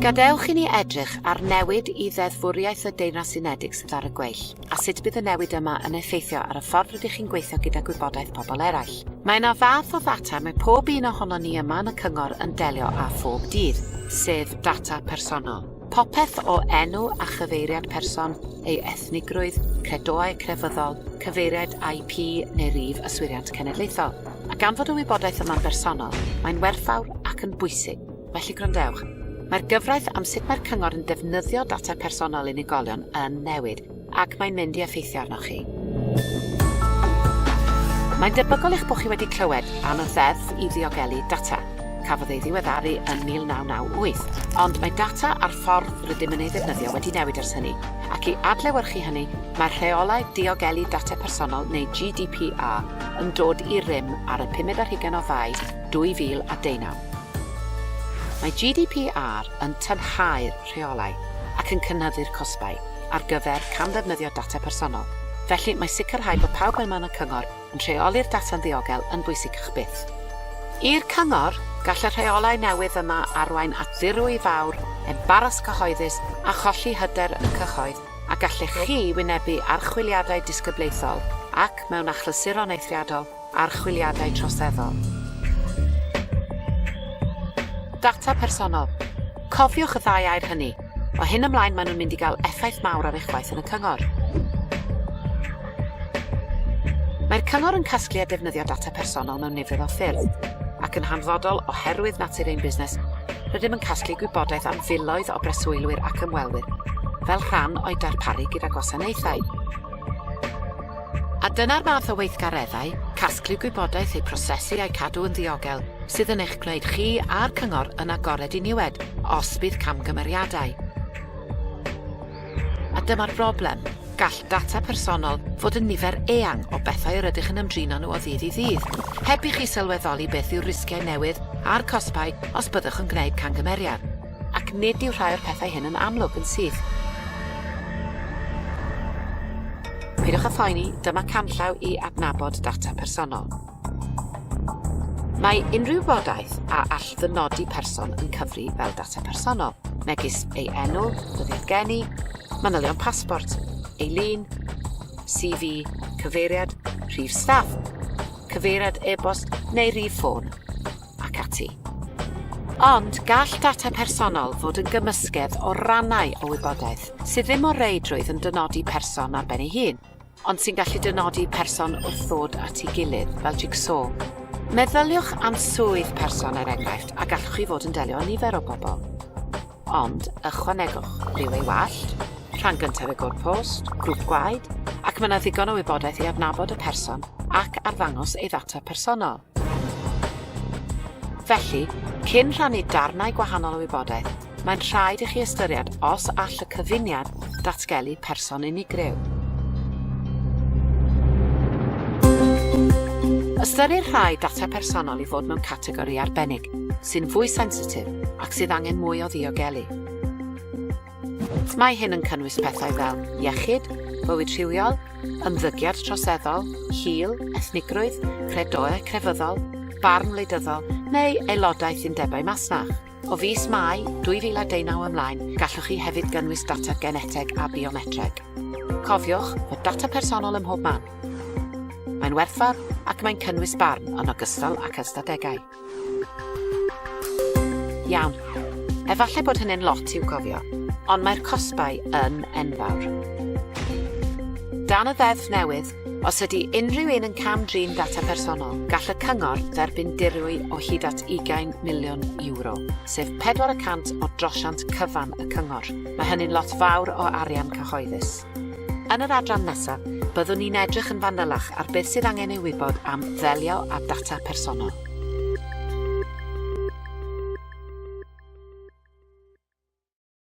Gadewch i ni edrych ar newid i ddeddfwriaeth y Deyrnas Unedig sydd ar y gweill, a sut bydd y newid yma yn effeithio ar y ffordd rydych chi'n gweithio gyda gwybodaeth pobl eraill. Mae yna fath o ddata mae pob un ohonon ni yma yn y cyngor yn delio â phob dydd, sef data personol. Popeth o enw a chyfeiriad person, ei ethnigrwydd, credoau crefyddol, cyfeiriad IP neu rif yswiriant cenedlaethol. A gan fod y wybodaeth yma'n bersonol, mae'n werthfawr ac yn bwysig, felly gwrandewch. Mae'r gyfraith am sut mae'r cyngor yn defnyddio data personol unigolion yn newid, ac mae'n mynd i effeithio arnoch chi. Mae'n debygol eich bod chi wedi clywed am y Ddeddf i Ddiogelu Data. Cafodd ei ddiweddaru yn 1998, ond mae data a'r ffordd rydym yn ei ddefnyddio wedi newid ers hynny, ac i adlewyrchu hynny, mae'r Rheolau Diogelu Data Personol neu GDPR yn dod i rym ar y pumed ar hugain o Fai 2019. Mae GDPR yn tynhau'r rheolau ac yn cynyddu'r cosbau. ar gyfer camddefnyddio data personol, felly mae sicrhau bod pawb yn man y cyngor yn rheoli'r data'n ddiogel yn bwysicach byth. I'r cyngor, gall y rheolau newydd yma arwain at ddirwy fawr, embaras cyhoeddus a cholli hyder y cyhoedd a gallech chi wynebu archwiliadau disgyblaethol ac, mewn achlysuron eithriadol, Archwiliadau troseddol. Data personol. Cofiwch y ddau air hynny. O hyn ymlaen maen nhw'n mynd i gael effaith mawr ar eich gwaith yn y cyngor. Mae'r cyngor yn casglu a defnyddio data personol mewn nifer o ffyrdd, ac yn hanfodol oherwydd natur ein busnes, rydym yn casglu gwybodaeth am filoedd o breswylwyr ac ymwelwyr, fel rhan o'i darparu gyda gwasanaethau. A dyna'r math o weithgareddau, casglu gwybodaeth, eu prosesu a'u cadw yn ddiogel, sydd yn eich gwneud chi a'r Cyngor yn agored i niwed os bydd camgymeriadau. A dyma'r broblem, gall data personol fod yn nifer eang o bethau yr ydych yn ymdrin â nhw o ddydd i ddydd, heb i chi sylweddoli beth yw'r risgiau newydd a'r cosbau os byddwch yn gwneud camgymeriad. Ac nid yw rhai o'r pethau hyn yn amlwg yn syth. Peidiwch â phoeni, dyma canllaw i adnabod data personol. Mae unrhyw wybodaeth a all ddynodi person yn cyfri fel data personol, megis ei enw, dyddiad geni, manylion pasbort, ei lun, CV, cyfeiriad, rhif staff, cyfeiriad e-bost neu rhif ffôn. ac ati. Ond gall data personol fod yn gymysgedd o rannau o wybodaeth sydd ddim o reidrwydd yn dynodi person ar ben ei hun, ond sy'n gallu dynodi person wrth ddod at ei gilydd, fel jig-so. Meddyliwch am swydd person er enghraifft a gallwch chi fod yn delio â nifer o bobl. Ond ychwanegwch rhyw ei wallt, rhan gyntaf ei gwrdd post, grŵp gwaed, ac mae yna ddigon o wybodaeth i adnabod y person ac arddangos ei ddata personol. Felly, cyn rhannu darnau gwahanol o wybodaeth, mae'n rhaid i chi ystyried os all y cyfuniad datgelu person unigryw. Ystyrir rhai data personol i fod mewn categori arbennig, sy'n fwy sensitif ac sydd angen mwy o ddiogelu. Mae hyn yn cynnwys pethau fel iechyd, bywyd rhywiol, ymddygiad troseddol, hil, ethnigrwydd, credoau crefyddol, barn wleidyddol neu aelodaeth undebau masnach. O fis Mai 2019 ymlaen, gallwch chi hefyd gynnwys data geneteg a biometreg. Cofiwch fod data personol ym mhob man. Mae'n werthfawr ac mae'n cynnwys barn yn ogystal ac ystadegau. Iawn. Efallai bod hynny'n lot i'w gofio, ond mae'r cosbau yn enfawr. Dan y ddeddf newydd, os ydy unrhyw un yn cam-drin data personol, gall y cyngor dderbyn dirwy o hyd at 20 miliwn euro, sef pedwar y cant o drosiant cyfan y cyngor. Mae hynny'n lot fawr o arian cyhoeddus. Yn yr adran nesaf, byddwn ni'n edrych yn fanylach ar beth sydd angen ei wybod am ddelio â data personol.